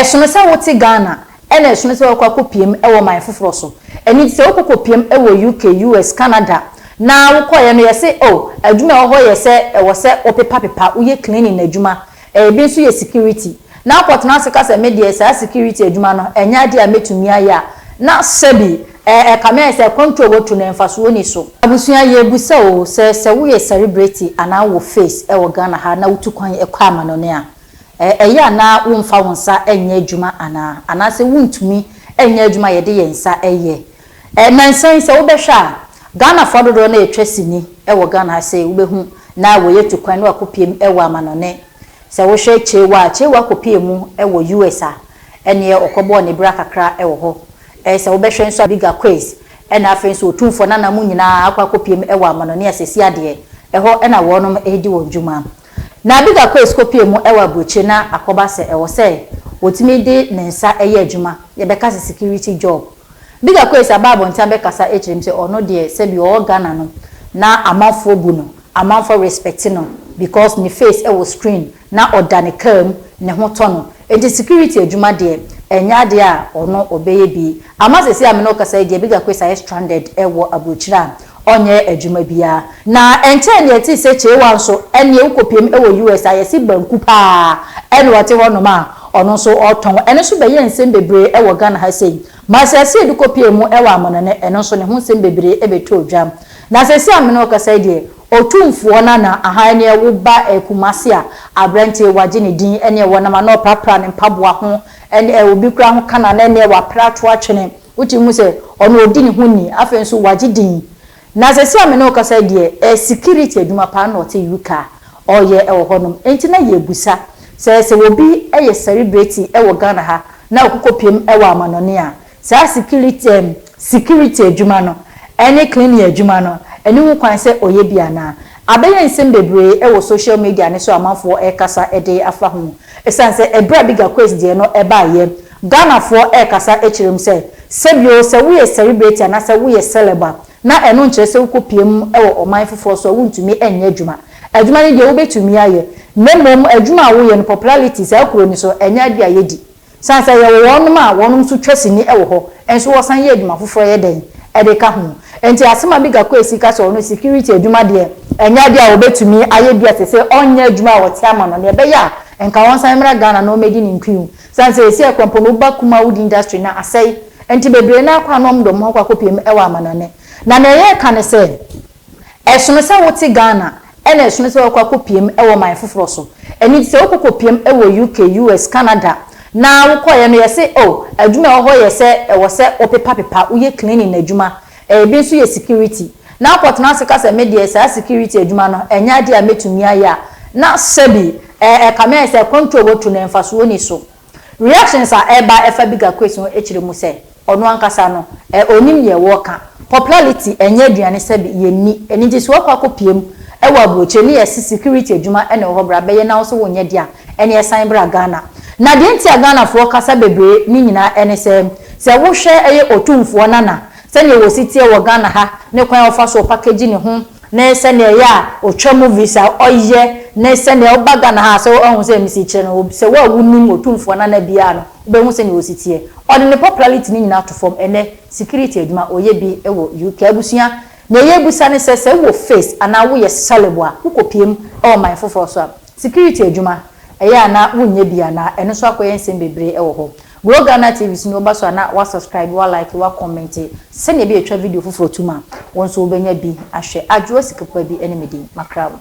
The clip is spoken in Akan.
Ɛsono sɛ wote Ghana ɛna ɛsono sɛ woakɔ akɔpiam wɔ ɔman foforɔ so. Ɛno nti sɛ wokɔ kɔpiam wɔ UK, US, Canada na wokɔeɛ no yɛse oh adwuma a ɛwɔ hɔ yɛ sɛ ɛwɔ sɛ wopepa pepa, woyɛ cleaning adwuma, ɛbi nso yɛ security na wokɔtena ase ka sɛ me deɛ saa security adwuma no ɛnyɛ adeɛ a mɛtumi ayɛ a na sɛbi ɛkame ayɛ sɛ kwan tu a watu no mfasoɔ nni so. Abusua yɛrebisa oo sɛ sɛ woyɛ celebrity anaa wowɔ face wɔ Ghana ha na wotu kwan kɔ amanɔne a Ɛ, ɛyɛ a na womfa wo nsa nyɛ adwuma anaa? Anaasɛ wontumi nyɛ adwuma a yɛde yɛn nsa yɛ? Ɛ, nnansa yi, sɛ wobɛhwɛ a, Ghanafoɔ dodoɔ no a wɔtwa sini wɔ Ghana ha sei, wobɛhu na wɔyɛ tu kwan na wɔakɔpiem wɔ amanɔne. Sɛ wohwɛ Chewa a, Chewa kɔpeeɛ mu wɔ US a, ɛnneɛ ɔkɔbɔɔ ne bra kakra wɔ hɔ. Ɛ, sɛ wobɛhwɛ nso a, Bigger Quiz, ɛna afei nso Otumfoɔ Nana, mo nyinaa akɔ akɔpiem wɔ amanɔne asɛsi adeɛ. Ɛhɔ na wɔnom redi wɔn dwuma. Na Abigail kɔɔ Skopje mu wɔ aburokyire na akɔba sɛ ɛwɔ sɛ ɔtumi de ne nsa yɛ adwuma, yɛbɛka sɛ security job. Abigail kɔe sɛ aba abɔnten abɛkasa akyerɛ mu sɛ ɔno deɛ sɛbi ɔwɔ Ghana no na amanfoɔ bu no, amanfoɔ respect no because ne face wɔ screen na ɔda ne car mu ne ho tɔ no, Enti security adwuma deɛ, ɛnyɛ adeɛ a ɔno ɔbɛyɛ bi. Ama seesei a me ne wo kasa yi deɛ, Bigger Quace ayɛ stranded wɔ aburokyire a ɔnyɛ adwuma biara. Na ɛnkyɛɛ na yɛtee sɛ Kyeewa nso, ɛnneɛ wokɔpiam wɔ US a yɛse banku pa ara na ɔte hɔnom a ɔno nso ɔretɔn. Ɛno nso bɛyɛɛ nsɛm bebree wɔ Ghana ha sei. Masiasia bi kɔpiaa mu wɔ Amanɔne, ɛno nso ne ho nsɛm bebree bɛtɔɔ dwa. Na seesei a me ne wo kasa yi deɛ, Otumfoɔ Nana ahaa ɛneɛ wo ba ɛyɛ Kumasi a abrantie wagye ne din ɛneɛ wɔnam ano ɔprapra ne mpaboa ho ɛne ɛ obi koraa ho kana na ɛneɛ wapere ato atwene wotumi hu sɛ ɔno ɔdi ne ho ni afei nso wagye din na sɛsɛ a me ne wo kasa yi deɛ ɛ security adwuma paa na ɔte UK a ɔyɛ ɛwɔ hɔ nom ɛnti na yɛbusa sɛ sɛ obi ɛyɛ celebrity ɛwɔ Ghana ha na ɔkokɔ piem ɛwɔ amanɔne a Saa sikiriti um sikiriti adwuma no ne cleaning adwuma no nni ho kwan sɛ ɔyɛ bi anaa? Abɛyɛ nsɛm bebree wɔ social media no so a amanfoɔ rekasa de afa ho. Ɛsiane sɛ ɛberɛ a Bigger Quest deɛ no baeɛ, Ghanafoɔ rekasa kyerɛ mu sɛ, sɛbi o, sɛ woyɛ celebrate anaasɛ woyɛ celeb a, na ɛno nkyerɛ sɛ wokɔ pue mu wɔ ɔman foforɔ so a wontumi nyɛ adwuma. Adwuma no deɛ wobɛtumi ayɛ, na mmom adwuma a woyɛ no popularity saa kuro no so, ɛnyɛ adeɛ a yɛdi. San sɛ yɛwɔ wɔnom a wɔnom nso twa sini wɔ hɔ nso wɔsan yɛ adwuma foforɔ yɛ dɛn de ka ho. Enti asɛm a Bigga Kwesi ka sɛ ɔno security adwuma deɛ ɛnyɛ adeɛ a ɔbɛtumi ayɛ bi a ɛsɛ sɛ ɔnyɛ adwuma a ɔte ama no deɛ ɛbɛyɛ a nka ɔnsan mmra Ghana na ɔmmɛdi ne nkuyu. San sɛ ɛsi akwan mpo no woba Kuma wood industry no asɛe nti bebree no ara kɔ a na wɔde wɔn ho akɔ akɔpiem wɔ amanɔne. Na deɛ yɛreka ne sɛ. Ɛsono sɛ wote Ghana ɛna ɛsono sɛ woakɔ akɔpiam wɔ ɔman foforɔ so. Ɛno nti sɛ wokɔ kɔpiam wɔ UK, US, Canada na wokɔeɛ no yɛse oh adwuma a ɛwɔ hɔ yɛ sɛ ɛwɔ sɛ wopepapepa, woyɛ cleaning adwuma, ɛbi nso yɛ security. Na wokɔtena ase ka sɛ me deɛ saa security adwuma no ɛnyɛ adeɛ a mɛtumi ayɛ a na sɛbi ɛkame ayɛ sɛ control a wɔtu no mfasoɔ nni so. Reactions a ɛba ɛfa bigger quotes ho ɛkyerɛ mu sɛ ɔno ankasa no ɛ ɔnim deɛ wɔ ka. Popularity ɛnyɛ aduane sɛbi yɛ nni ɛno nti sɛ wakɔ akɔ pie mu ɛwɔ abrokyire ne yɛ se security adwuma ɛna ɛwɔ hɔ bra bɛyɛ na wo nso wo nyɛ deɛ a ɛneɛ san bra Ghana. Na deɛ nti a Ghana foɔ kasa bebree ne nyinaa ɛne sɛ sɛ wo hwɛ ɛyɛ Otumfoɔ Nana sɛdeɛ wɔ si teɛ wɔ Ghana ha ne kwan a ɔfa so ɔpakagyi ne ho ne sɛnea ɛyɛ a ɔtwa movies a ɔyɛ ne sɛnea ɔba Ghana ha a sɛ woahu sɛ mesi kyerɛ no sɛ wo a wonim Otumfoɔ Nana biara no wobɛhu sɛnea ɔsi teɛ. Ɔde ne popularity no nyinaa to fam ɛnnɛ security adwuma ɔyɛ bi wɔ UK. Abusua, nea yɛrebisa ne sɛ sɛ wowɔ face anaa woyɛ celeb a wokɔpue mu wɔ man foforɔ so a security adwuma ɛyɛ a na wonyɛ bi anaa? Ɛno nso akɔyɛ nsɛm bebree wɔ hɔ. Glo Ghana TV so no woba so a na wa subscribe, wa like, wa comment sɛnea ɛbɛyɛ twa video foforɔ tom a wo nso wobɛnya bi ahwɛ. Adwoa Sikapupa bi ne me din. Makra wo.